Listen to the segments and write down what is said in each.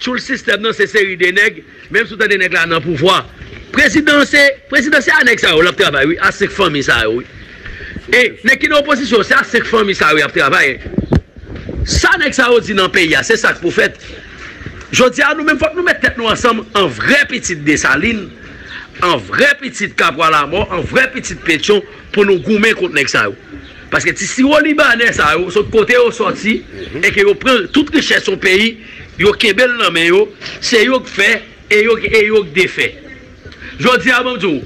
Tchoul sistèm nan se seri de nèg menm si w tande nèg la nan pouvwa prezidan se prezidan se a nèg sa yo lap travay wi a 5 fanmi sa yo wi e nèg ki nan opozisyon se a 5 fanmi sa yo yap travay sa nèg sa yo di nan peyi a se sak pou fèt jodi a nou menm fòk nou mèt tèt nou ansanm an vrè pitit desalin an vrè pitit kapwa lamò an vrè pitit petyon pou nou goumen kont nèg sa yo. Paske ti siwo libanè sa yo sot kote yo sòti e ke yo pran tout richès yon peyi, yo kenbe l nan men yo, se yo k fè e yo e yo k defè. Jodi a map di w,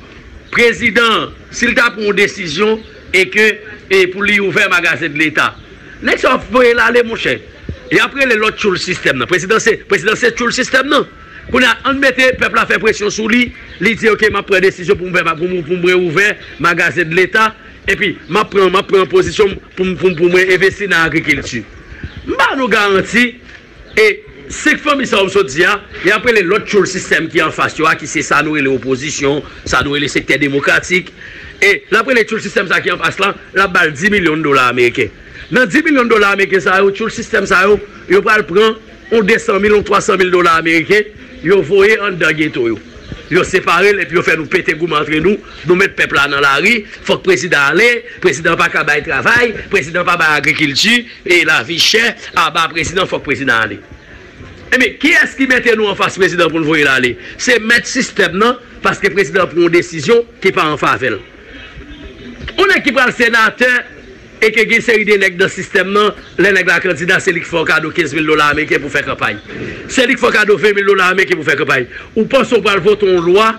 prezidan an si l ta pran yon desizyon e ke e pou li ouvè magazen de leta, nèg sa yo ap voye l ale monchè. Yap rele lòt tchoul sistèm nan. Prezidan se prezidan se tchoul sistèm nan. Kounye a ann mete pèp la fè presyon sou li, li di ok map pran desizyon pou m fè pou m pou m reouvè magazen de leta. Epi, m ap pran m ap pran pozisyon m pou m pou mwen envesti nan agrikilti. M ba nou garanti, e 5 fanmi sa yo m sot di a, y ap rele lòt tyoul sistèm ki anfas yo a ki se sa nou rele opozisyon, sa nou rele sektè demokratik, e l ap rele tyoul sistèm sa ki anfas lan, l ap ba l 10 milyon dola ameriken. Nan 10 milyon dola ameriken sa yo, tyoul sistèm sa yo, yo pral pran. On 200 mil, on 300 mil dola ameriken, yo voye anndan geto yo. Yo separe l epi yo fè nou pete goumen antre nou, nou met pèp la nan lari, fòk prezidan ale, prezidan an pa ka bay travay, prezidan an pa bay agrikilti, e lavi chè, aba prezidan, fòk prezidan ale. Ebyen, kiyès ki mete nou anfas prezidan pou n voye l ale? Se mèt sistèm nan, paske prezidan an pran on desizyon ki pa an favè l. Yon nèg ki pral senatè e ke gen seri de nèg nan sistèm nan, lè nèg la kandida se li ki fè w kado 15 mil dola ameriken pou fè kanpay. Se li ki fè w kado 20 mil dola ameriken pou fè kanpay. Ou panse ou pral vote yon lwa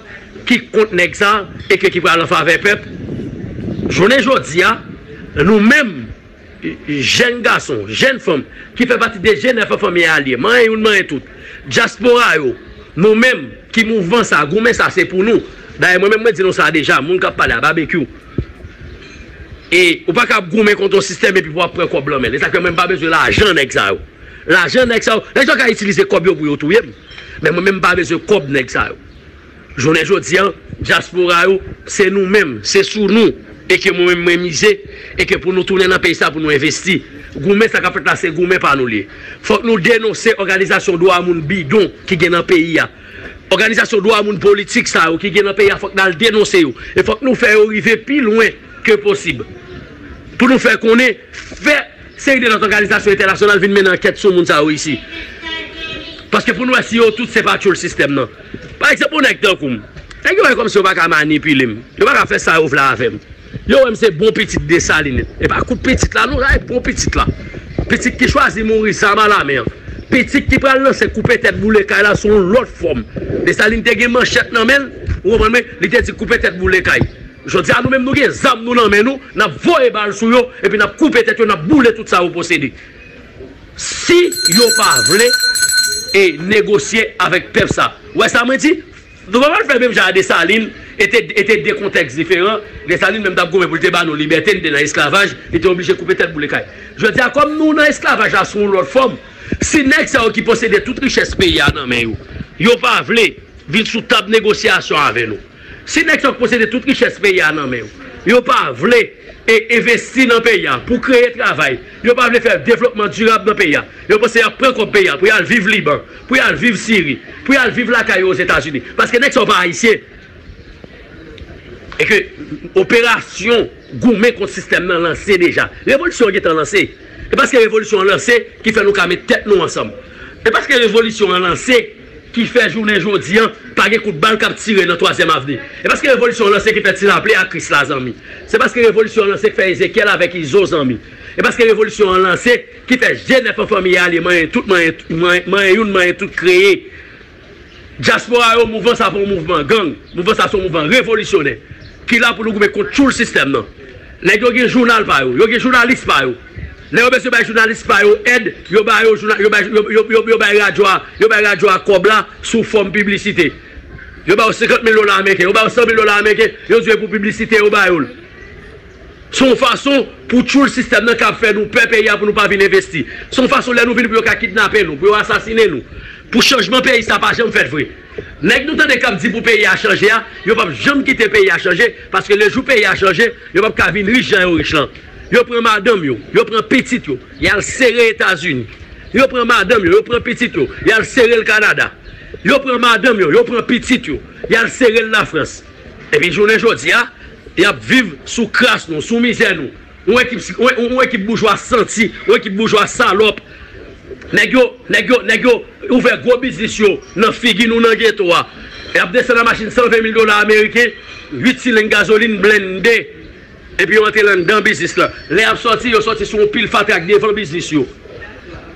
ki kont nèg sa e ke ki pral an favè pèp? Jounen jodi a, nou menm. Jèn gason, jèn fanm ki fè pati de Jenèf an fanmi a lye. Manyen youn manyen tout. Dyaspora yo, nou menm ki mouvman sa, goumen sa se pou nou. Dayè mwen menm mwen di nou sa deja, moun k ap pale a, Babekyou. E ou pa ka ap goumen kont yon sistèm epi pou ap pran kòb lan men l. E sa k fè mwen m pa bezwen lajan nèg sa yo. Lajan nèg sa yo, nèg sa yo ka itilize kòb yo pou yo touye m. Men mwen menm m pa bezwen kòb nèg sa yo. Jounen jodi an, dyaspora yo, se nou menm, se sou nou e ke mwen menm mwen mize e ke pou nou tounen nan peyi sa pou nou envesti. Goumen sa k ap fèt la se goumen pa nou li ye. Fòk nou denonse òganizasyon dwa moun bidon ki gen nan peyi a. Òganizasyon dwa moun politik sa yo ki gen nan peyi a fòk n al denonse yo e fòk nou fè yo rive pi lwen ke posib pou nou fè konnen fè Seri de lòt òganizasyon entènasyonal vin mennen ankèt sou moun sa yo isi. Paske pou n wè si yo tout se pa tchoul sistèm nan. Pa egzanp yon nèg tankou m. Nèg yo wè kòmsi yo pa ka manipile m. Yo pa ka fè sa yo vle avè m. Yo wè m se bon pitit Desalin. E pa kout pitit la non, rayi bon pitit la. Pitit ki chwazi mouri zam a lamen an. Pitit ki pral lanse koupe tèt boule kay la sou yon lòt fòm. Desalin te gen manchèt nan men l, ou konprann mwen, li te di koupe tèt boule kay. Jodi a nou menm nou gen zam nou nan men nou, n ap voye bal sou yo epi n ap koupe tèt yo, n ap boule tout sa yo posede. Si yo pa vle e negosye avèk pèp sa. Ou wè sa mwen di? Nou pa pral fè menm jan a Desalin e te e te 2 kontèks diferan. Desalin menm t ap goumen pou l te ba nou libète, n te nan esklavaj, li te oblije koupe tèt boule kay. Jodi a kòm nou nan esklavaj la sou yon lòt fòm, si nèg sa yo ki posede tout richès peyi a nan men yo, yo pa vle vin sou tab negosyasyon avè nou. Si nèg sa yo k posede tout richès peyi a nan men yo, yo pa vle envesti nan peyi a pou kreye travay, yo pa vle fè devlopman dirab nan peyi a, yo panse y ap pran kòb peyi a pou y al viv Liban, pou y al viv Siri, pou y al viv lakay yo Ozetazini. Paske nèg sa yo pa Ayisyen. E ke operasyon goumen kont sistèm nan lanse deja. Revolisyon an gen tan lanse. E paske revolisyon an lanse ki fè nou ka met tèt nou ansanm. E paske revolisyon an lanse. ki fè jounen jodi an pa gen kout bal k ap tire nan twazyèm avni e paske revolisyon an lanse ki fè ti laple ak kris la zanmi se paske revolisyon an lanse k fè ezekyèl avèk izo zanmi e paske revolisyon an lanse ki fè je nèf an fanmi ale manyen tout manyen manyen youn manyen tout kreye dyaspora yo mouvman sa pa yon mouvman gang mouvman sa se yon mouvman revolisyonè ki la pou nou goumen kont tchoul sistèm nan nèg yo gen jounal pa yo yo gen jounalis pa yo. Lè yo bezwen bay jounalis pa yo èd, yo ba yo jouna, yo bay, yo, yo, yo, yo bay radyo a, yo bay radyo a kòb la sou fòm piblisite. Yo ba yo senkant mil dola ameriken, yo ba yo san mil dola ameriken, yo di yo e pou piblisite yo ba yo l. Se yon fason pou tchoul sistèm nan kab fè nou pè peyi a pou nou pa vin envesti. Se yon fason lè nou vini pou yo ka kidnape nou, pou yo asasinen nou. Pou chanjman peyi sa pa janm fèt vre. Nèg nou tande kap di pou peyi a chanje a, yo pap janm kite peyi a chanje, paske lejou peyi a chanje, yo pap ka vin rich jan yo rich lan. Yo pran madanm yo, yo pran pitit yo, y al sere Etazini. Yo pran madanm yo, yo pran pitit yo, y al sere l Kanada. Yo pran madanm yo, yo pran pitit yo, y al sere l Lafrans. Epi jounen jodi a, y ap viv sou kras nou, sou mizè nou. Yon ekip, yon ekip boujwa santi, yon ekip boujwa salòp. Nèg yo, nèg yo, nèg yo ouvè gwo biznis yo nan figi nou nan geto a. Y ap desann a machin 120 mil dola ameriken, 8 sileng gazolin blende. Epi yo antre landan biznis lan. Lè y ap sòti, yo sòti sou yon pil fatra k devan biznis yo.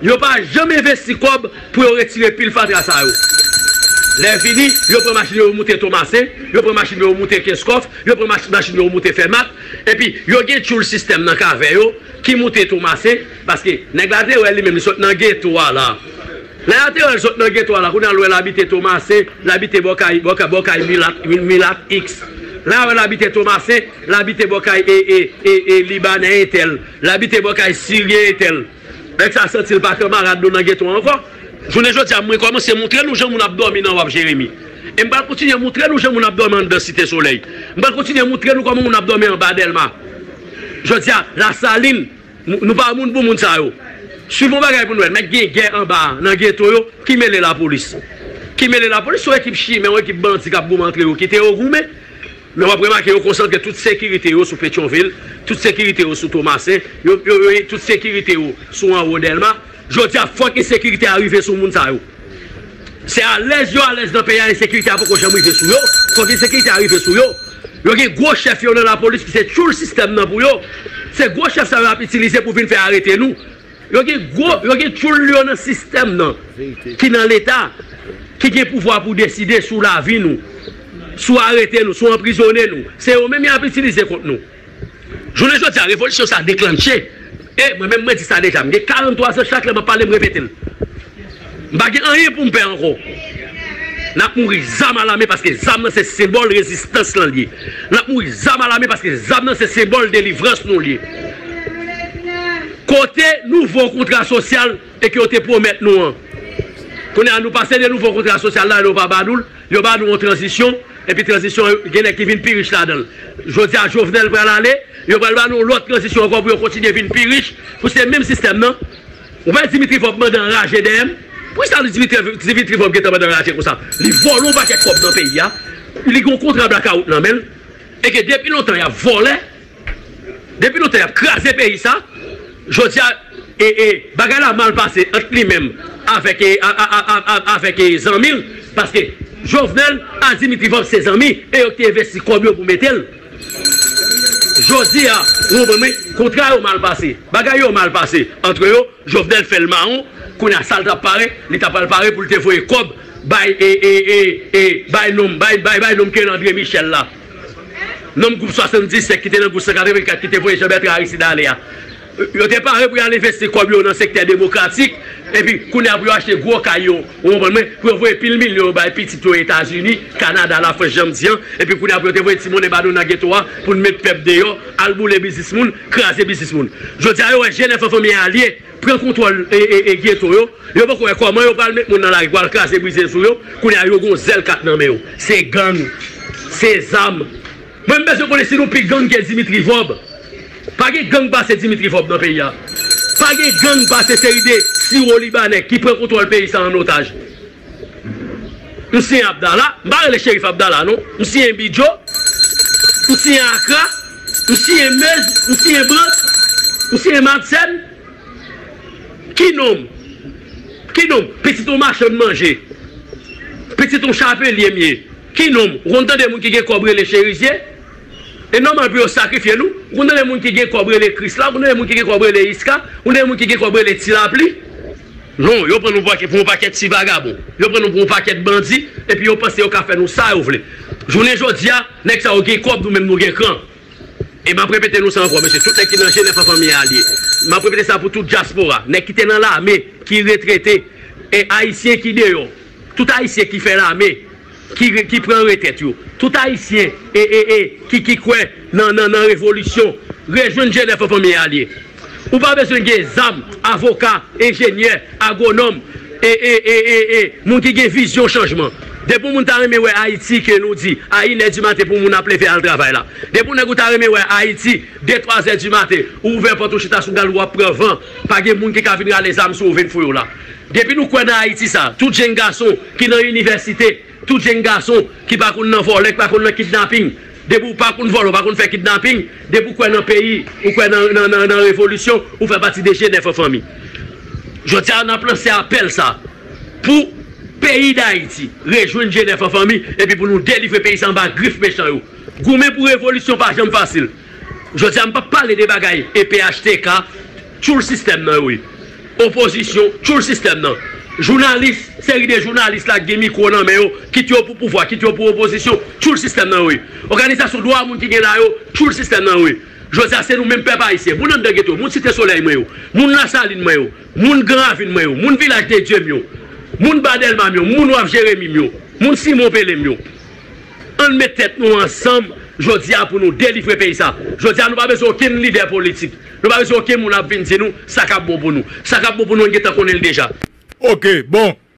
Yo pa janm envesti kòb pou yo retire pil fatra sa yo. Lè vini, yo pran machin yo, yo moute Tomase, yo pran machin yo, yo moute Kenskòf, yo pran machin yo, yo moute Fèmat. Epi, yo gen tchoul sistèm nan k avè yo ki moute Tomase, paske nèg la te wè li menm li sot nan geto a la. Lè a te wè l sot nan geto a la, kounye a l wè l abite Tomasen, l abite bò kay, bò kay, bò kay milat, mi, milat X. Lè a wè l abite Tomasen, l abite bò kay e, e, e, e, Libanè entèl. L abite bò kay Siryen entèl. Nèg sa a santi l pa kanmarad nou nan geto a ankò. Jounen jodi a, mwen kòmanse montre nou jan moun ap dòmi nan Wharf Jérémie. E m pral kontinye montre nou jan moun ap dòmi anndan Site Solèy. M pral kontinye montre nou kòman moun ap dòmi anba Dèlma. Jodi a, Lasalin. Nou pa moun pou moun sa yo. Swiv yon bagay pou nou wè. Mèt gen gè anba a, nan geto yo. Ki mele lapolis? Ki mele lapolis? Se yon ekip chimè, yon ekip bandi k ap goumen antre yo. Kite yo goumen. Men w ap remake yo konsantre tout sekirite yo sou Petyonvil, tout sekirite yo sou Tomasen, yo, yo, yo, tout sekirite yo sou anwo Dèlma. Jodi a fòk ensekirite a rive sou moun sa yo. Se alèz yo alèz nan peyi a ensekirite a poko janm rive sou yo. Fòk ensekirite a rive sou yo. Yo gen gwo chèf yo nan lapolis ki se tchoul sistèm nan pou yo. Se gwo chèf sa yo y ap itilize pou vin fè arete nou. Yo gen gwo, yo gen tchoul yo nan sistèm nan ki nan leta, ki gen pouvwa pou deside sou lavi nou, sou arete nou, sou anprizone nou. Se yo menm y ap itilize kont nou. Jounen jodi a revolisyon sa deklanche e mwen menm mwen di sa deja m gen 43 zan chak lè map pale m repete l m pa gen anyen poum pè ankò nap mouri zam alame paske zam nan se senbòl rezistans lan liye nap mouri zam alame paske zam nan se senbòl delivrans nou liye kote nouvo kontra sosyal e ke yo te pwomèt nou an kounye a nou pase de nouvo kontra sosyal la e nou pa ba nou l. Yo ba nou yon tranzisyon, epi tranzisyon an gen nèg ki vin pi rich ladan l. Jodi a Jovenel pral ale, yo pral ba nou yon lòt tranzisyon ankò pou yo kontinye vin pi rich, pou se menm sistèm nan. Ou pa wè Dimitri Vorb mande anraje dèyè m? Pou ki sa Dimitri Vorb gen tan mande anraje konsa? Li vòlò yon pakèt kòb nan peyi a, li gen yon kontra blakawout nan men l, e ke depi lontan y ap vòlè. Depi lontan yap kraze peyi sa, jodi a bagay la mal pase ant li menm avèk zanmi l, paske Jovenel a Dimitri Vorbe se zanmi e yo ki te envesti kòb yo pou mete l. Jodi a ou konprann mwen, kontra yo mal pase, bagay yo mal pase antre yo, Jovenel fè l mawon, kounye a sa l tap pare, li ta pral pare pou l te voye kòb bay nonm Kerandre Michel la. Manm gwoup 77 ki te nan gwoup 184 ki te voye Jean Bertrand Aristide ale a, yo te pare pou y al envesti kòb yo nan sektè demokratik, epi kounye a pou yo achte gwo kay yo, ou konprann mwen, pou yo voye pil milyon yo bay pitit yo Etazini, Kanada, Lafrans jan m di an, epi kounye a pou yo te voye ti monnen ba nou nan geto a pou n met pèp deyò, al boule biznis moun, kraze biznis moun. Jodi a yo wè je nèf an fanmi a lye. pran kontwòl ghetto yo, yo poko wè kòman yo pral met moun nan lari pou al kraze brize sou yo, kounye a yo gon zèl kat nan men yo, se gang, se zam, mwen m bezwen konnen si nou pi gang ke Dimitri Vorb, pa gen gang pase Dimitri Vorb nan peyi a, pa gen gang pase seri de siwo libanè ki pran kontwòl peyi sa an otaj, M siyen Abdala, m pa rele Cherif Abdala non, m siyen Bidjo, m siyen Akra, m siyen Meuse, m siyen Brandt, m siyen Madsen, ki non m? Ki non m? Pitit yon machann manje, pitit yon chapelye m ye, ki non m? Ou konn tande moun ki gen kòb rele Cherizie? E nòmal pou yo sakrifye nou? Ou konn tande moun ki gen kòb rele Krisla, ou konn tande moun ki gen kòb rele Iska, ou konn tande moun ki gen kòb rele Tilapli? Non, yo pran nou pou yon pakèt ti vagabon. Yo pran nou pou yon pakèt bandi epi yo panse yo ka fè nou sa yo vle. Jounen jodi a, nèg sa yo gen kòb, nou menm nou gen kran. E m ap repete nou sa ankò, mesye, tout nèg ki nan Jenèf ansanm ye alye. M ap repete sa pou tout dyaspora, nèg ki te nan lame, ki retrete, e Ayisyen ki deyò, tout Ayisyen ki fè lame. ki pran retèt yo. Tout Ayisyen e e e ki ki kwè nan nan nan revolisyon, rejwenn Jenèf an fanmi a liye. Ou pa bezwen gen zam, avoka, enjenyè, agwonòm e e e e e moun ki gen vizyon chanjman. Depi yon moun ta renmen wè Ayiti ke nou di a inè di maten pou moun ap leve al travay la. Depi yon nèg ou ta renmen wè Ayiti de twa zè di maten ou ouvè pòt ou chita sou gal ou ap pran van, pa gen moun ki ka vin rale zam sou ou vin fouye w la. Depi nou kwè nan Ayiti sa, tout jenn gason ki nan inivèsite, tout jenn gason ki pa konn nan vòlè, ki pa konn nan kidnaping, depi ou pa konn vòlè, ou pa konn fè kidnaping, depi ou kwè nan peyi, ou kwè nan revolisyon, ou fè pati de jenèf an fanmi. Jodi a, n ap lanse apèl sa pou peyi Dayiti rejwenn jenèf an fanmi epi pou nou delivre peyi sa anba grif mechan yo. Goumen pou revolisyon pa janm fasil. Jodi a m pap pale de bagay e phtk tchoul sistèm nan wi opozisyon tchoul sistèm nan jounalis seri de jounalis la k gen mikwo nan men yo kit yo pou pouvwa kit yo pou opozisyon tchoul sistèm nan wi òganizasyon dwa moun ki gen la yo tchoul sistèm nan wi jodi a se nou menm pèp ayisyen moun anndan geto moun site solèy mwen yo moun lasalin mwen yo moun gran ravin mwen yo moun vilaj dedye m yo moun ba dèlma m yo moun waf jeremi m yo moun simon pele m yo. Ann met tèt nou ansanm jodi a pou nou delivre peyi sa. Jodi a nou pa bezwen okenn lidè politik. Nou pa bezwen okenn moun ap vin di nou sa k ap bon pou nou. Sa k ap bon pou nou nou gen tan konnen li deja. Ok bon